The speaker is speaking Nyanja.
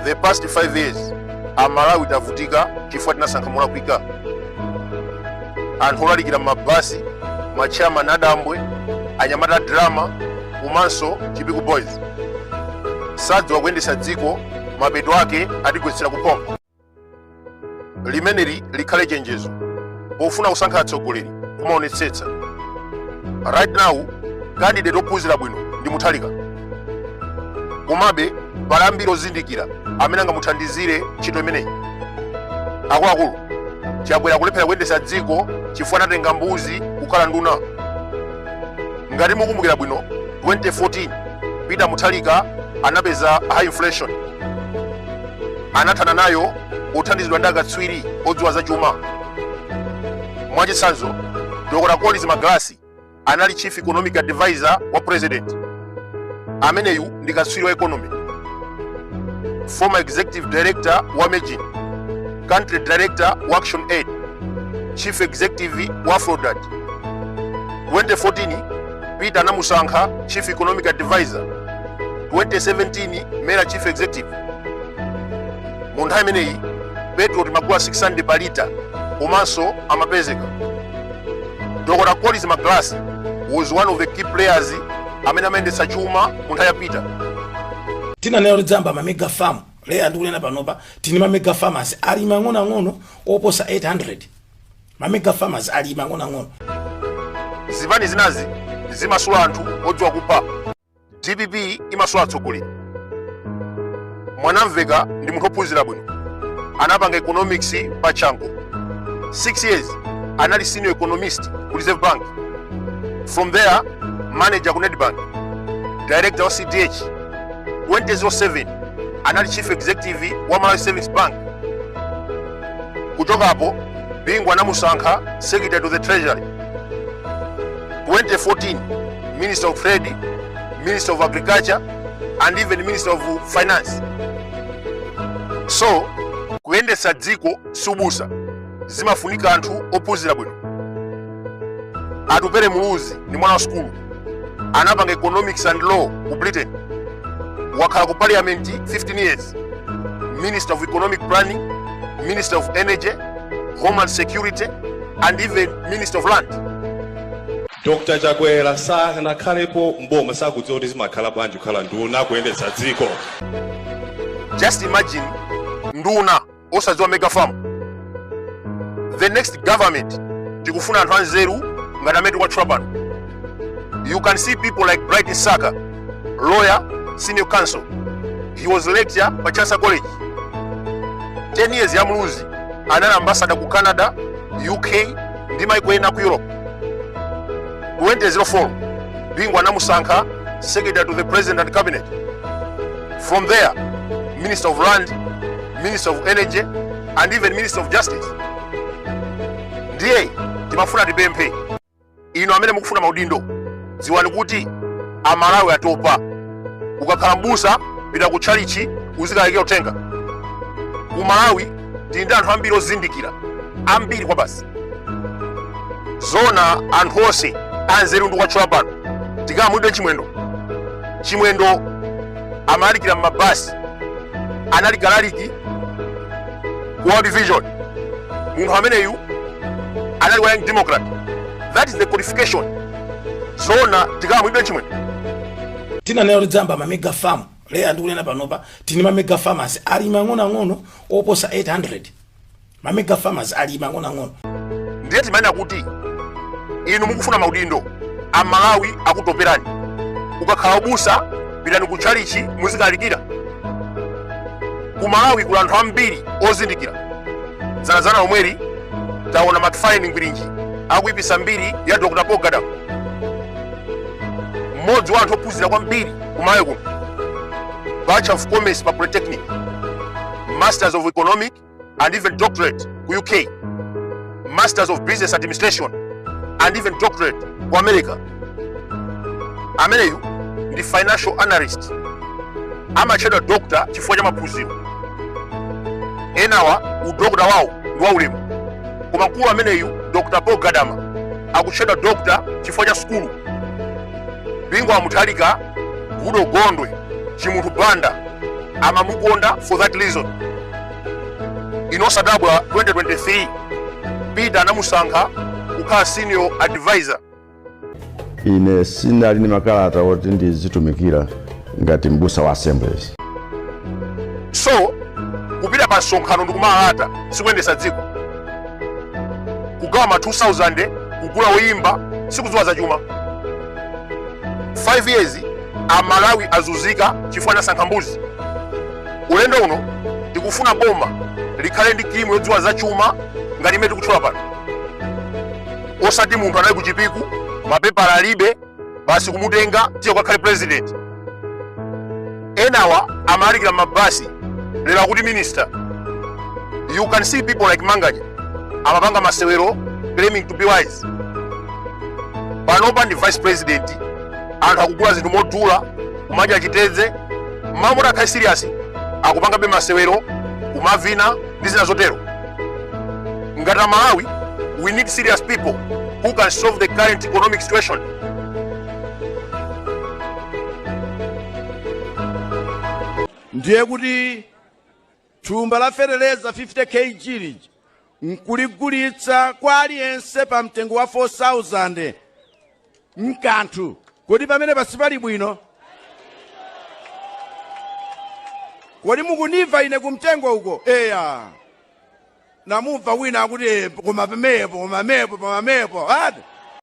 the past 5 years amalawi tavutika chifukwa tinasankha molakwika anthu olalikira mmabasi matchairman adambwe anyamata drama komanso chipiku boys sadziwa kuyendetsa dziko mapeto ake atigwetsera kuphompho limeneli likhale chenjezo pofuna kusankha atsogoleri kumaonetsetsa right now candidate ophunzira bwino ndi mutharika komabe pali ambiri ozindikira amene angamuthandizire ntchito imeneyi akuluakulu chakwera kulephera kuyendetsa dziko chifukwa anatenga mbuzi kukhala nduna ngati mukumbukira bwino 2014 peter mutharika anapeza high inflation anathana nayo othandizidwa ndi akatswiri odziwa zachuma. Mwachitsanzo, Dr. Collins Magalasi anali chief economic advisor wa president. Ameneyu ndi katswiri wa economy, former executive director wa Mejn, country director wa Action Aid, chief executive wa Afrodad. 2014 Peter anamusankha chief economic advisor, 2017 Mera chief executive. mu nthawi imeneyi petrol timagula 600 pa lita komanso amapezeka dr collins magalasi was one of the key players amene amayendetsa chuma mu nthawi ya peter tinanena kuti tidzayamba ma mega farm lero ndikunena panopa tili ndi ma mega farmers alimi ang'onoang'ono oposa 800 ma mega farmers alimi ang'onoang'ono zipani zinazi zimasula anthu odziwa kupha dpp imasula atsogoleri mwanamvekha ndi munthu ophunzira bwino anapanga economics pa chanco 6 years anali senior economist ku reserve bank from there manager ku nedbank director wa cdh 2007 anali chief executive wa malawi savings bank kuchokapo bingu anamusankha secretary to the treasury 2014 minister of trade minister of agriculture and even minister of finance so kuyendetsa dziko si ubusa zimafunika anthu ophunzira bwino atupele muluzi ni mwana wa sukulu anapanga economics and law ku britain wakhala ku parliament 15 years minister of economic planning minister of energy homeland security and even minister of land dr chakwera sanakhalepo mboma sakudziwa kuti zimakhala bwanji kukhala nduna kuyendetsa dziko just imagine nduna osadziwa mega farm the next government tikufuna anthu anzeru ngati amene tikuwatchula pano you can see people like bright msaka lawyer senior counsel he was lecturer pa chancellor college 10 years ya muluzi anali ambasada ku canada uk ndi maiko ena ku europe 2004 bingu anamusankha secretary to the president and cabinet from there minister of land minister of energy and even minister of justice ndiye timafuna tipemphe inu amene mukufuna maudindo dziwani kuti amalawi atopa ukakhala mbusa pita ku tchalichi uzikalalikira uthenga ku malawi tili ndi anthu ambiri ozindikira ambiri kwa basi zona anthu onse anzeru ndawatchula pano richard chimwendo chimwendo amalalikira m'mabasi anali mlaliki ku world vision munthu ameneyu anali wa young democrat that is the qualification zona richard chimwendo tinanena kuti tidzayamba ma mega farm lero ndikunena panopa tili ndi ma mega farmers ali mang'onoang'ono oposa 800 ma mega farmers ali mang'onoang'ono ndiye timanena kuti inu mukufuna maudindo amalawi akutopelani ukakhala ubusa pitani ku tchalichi muzikalalikira ku malawi kuli anthu ambiri ozindikira dzanadzana omweli taona macfarlane ngwirinji akuyipisa mbiri ya dr paul gadama mmodzi wa anthu ophunzira kwambiri ku malawi kuno bachelor of commerce pa polytechnic masters of economic and even doctorate ku uk masters of business administration and even doctorate ku america ameneyu ndi financial analyst amatchedwa dokta chifukwa cha maphunziro enawa udokta wawo ndi waulemu koma mkulu ameneyu dr paul gadama akutchedwa dokta chifukwa cha sukulu bingu wa mutharika goodall gondwe chimunthu banda amamukonda for that reason nzosadabwitsa 2023 peter anamusankha kukhala senior advisor ine ndinali ndi makalata oti ndizitumikira ngati mbusa wa assemblies so kupita pa msonkhano ndi kumalalata sikuyendesa dziko kugawa ma 2000 kugula oyimba sikudziwa za chuma 5 years amalawi azunzika chifukwa anasankha mbuzi ulendo uno tikufuna boma likhale ndi timu yodziwa za chuma ngati imene tikutchula pano osati munthu anali kuchipiku mapepala alibe basi kumutenga tiye ukakhale president enawa amalalikira mabasi lero akuti minister you can see people like manganya amapanga masewero claiming to be wise panopa ndi vice president anthu akugula zinthu modula kumadya chitedze mmalo moti akhale serious akupangabe masewero kumavina ndi zina zotero ngati amalawi we need serious people who can solve the current economic situation ndiye kuti thumba la feteleza 50 kg lija nkuligulitsa kwa aliyense pa mtengo wa 4000 mkanthu kodi pamene pasipali bwino kodi mukunimva ine kumtengo uko eya namumva wina akuti "Eh, koma pamepo koma pamepo pamepo ati